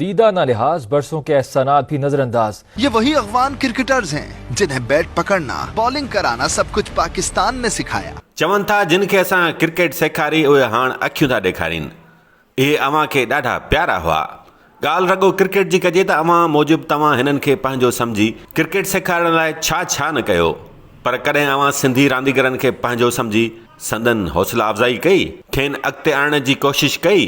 ديده نه لحاظ، برسون کي احسا نا ڀي نظر انداز. يي وهي اغوان ڪرڪيٽرز هين جنهين بيٽ پڪڙنا بالنگ ڪرانا سب ڪجھ پاڪستان مين سکايا. چون ٿا جن کي اسان ڪرڪيٽ سيکاري اهي هاڻ اکيون ٿا ڏيکارين اهي اوهان کي ڏاڍا پيارا هئا ڳالھ رڳو ڪرڪيٽ جي ڪجي ته اوهان موجب توهان هنن کي پنهنجو سمجهي ڪرڪيٽ سيکارڻ لاء ڇا ڇا نه ڪيو پر ڪڏهن اوهان سنڌي رانديگرن کي پنهنجو سمجهي سندن حوصلا افزائي ڪئي کين اڳتي آڻڻ جي ڪوشش ڪئي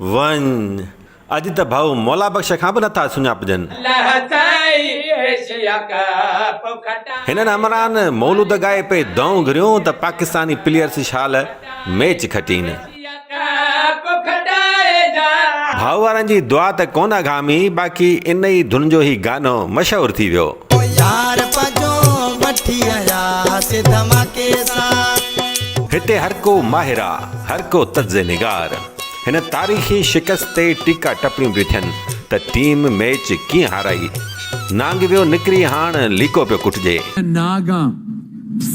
وڃ، اڄ ته ڀائو مولا بخش کان به نٿا سڃاپجن. هنن همراهن مولود ڳائي پئي دانهون گهريون ته پاڪستاني پليئرز شال ميچ کٽين. ڀائو وارن جي دعا ته ڪونه اگهامي باقي ان ئي ڌن جو هي گانو مشهور ٿي ويو. هتي هر ڪو ماهر آ، هر ڪو طرز نگار. هن تاريخي شڪست تي ٽيڪا ٽپڻيون پيون ٿين ته ٽيم ميچ ڪيئن هارائي؟ نانگ ويو نڪري هاڻ ليڪو پيو ڪٽجي. ناگان پس.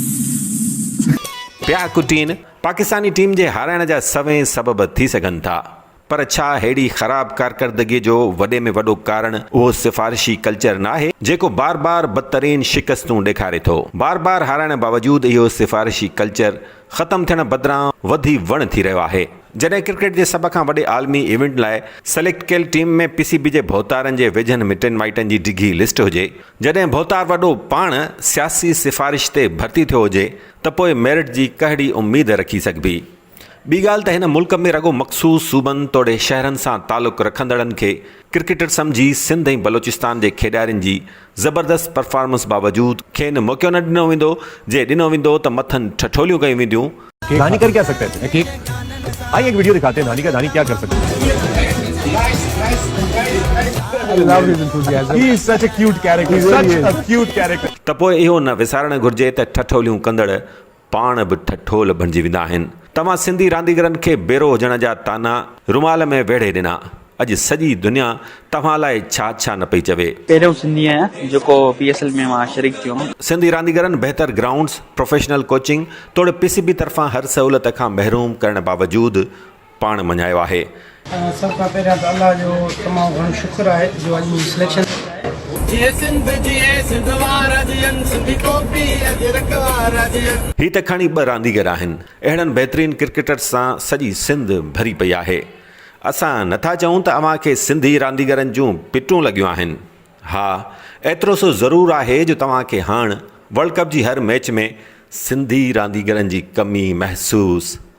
پيا ڪٽين، پاڪستاني ٽيم جي هارائڻ جا سوين سبب ٿي سگهن ٿا پر ڇا ههڙي خراب ڪارڪردگي جو وڏي ۾ وڏو ڪارڻ اهو سفارشي ڪلچر ناهي جيڪو بار بار بدترين شڪستون ڏيکاري ٿو. بار بار هارائڻ باوجود اهو سفارشي ڪلچر ختم ٿيڻ بدران وڌي وڻ ٿي رهيو آهي. جڏهن ڪرڪيٽ جي سڀ کان وڏي عالمي ايونٽ لاء سليڪٽ ڪيل ٽيم ۾ پي سي بي جي ڀوتارن جي ويجهن مٽن مائٽن جي ڊگهي لسٽ هجي، جڏهن ڀوتار وڏو پاڻ سياسي سفارش تي ڀرتي ٿيو هجي ته پوء ميرٽ جي ڪهڙي اميد رکي سگهبي؟ ٻي ڳالهه ته هن ملڪ ۾ رڳو مخصوص صوبن توڙي شهرن سان تعلق رکندڙن کي ڪرڪيٽر سمجهي سنڌ ۽ بلوچستان جي کيڏارين جي زبردست پرفارمنس باوجود کين موقعو نه ڏنو ويندو، جي ڏنو ويندو ته مٿن ٺٺوليون ڪيون وينديون. ڌاني ڪر ڪيا سگھتا هي تجھي ڪيڪ آئي هڪ ويڊيو دکاتي هي ڌاني ڪا ڌاني ڪيا ڪر سگھتا هي. ته پوء اهو نه وسارڻ گھرجي ته ٺٺوليون ڪندڙ پاڻ به ٺٺول بڻجي ويندا آهن. توهان سنڌي رانديگرن کي بيرو هجڻ جا طعنا رومال ۾ ويڙهي ڏنا. اڄ سڄي دنيا توهان لاء ڇا ڇا نه پئي چوي. پهريون سنڌي آهيان جيڪو پي ايس ايل ۾ مان شريڪ ٿيو هوم. سنڌي رانديگرن بهتر گرائونڊز، پروفيشنل ڪوچنگ توڙي پي سي بي طرفان هر سهولت کان محروم ڪرڻ باوجود پاڻ مڃايو آهي. سڀ کان پهريان ته الله جو تمام گهڻو شڪر آهي جو اڄ منهنجي سليڪشن ٿي آهي. جيئي سنڌ جيئي سنڌ وارا جيئن سنڌي ڪوڪي اجرڪ وارا جيئن. هي ته کڻي ٻه رانديگر آهن اهڙن بهترين ڪرڪيٽرز سان سڄي سنڌ ڀري پئي آهي اسان نه ٿا چئون ته اوهان کي سنڌي رانديگرن جون پٽون لڳيون آهن ها ايترو سو ضرور آهي جو توهان کي هاڻ ورلڊ ڪپ جي هر ميچ ۾ سنڌي رانديگرن جي ڪمي محسوس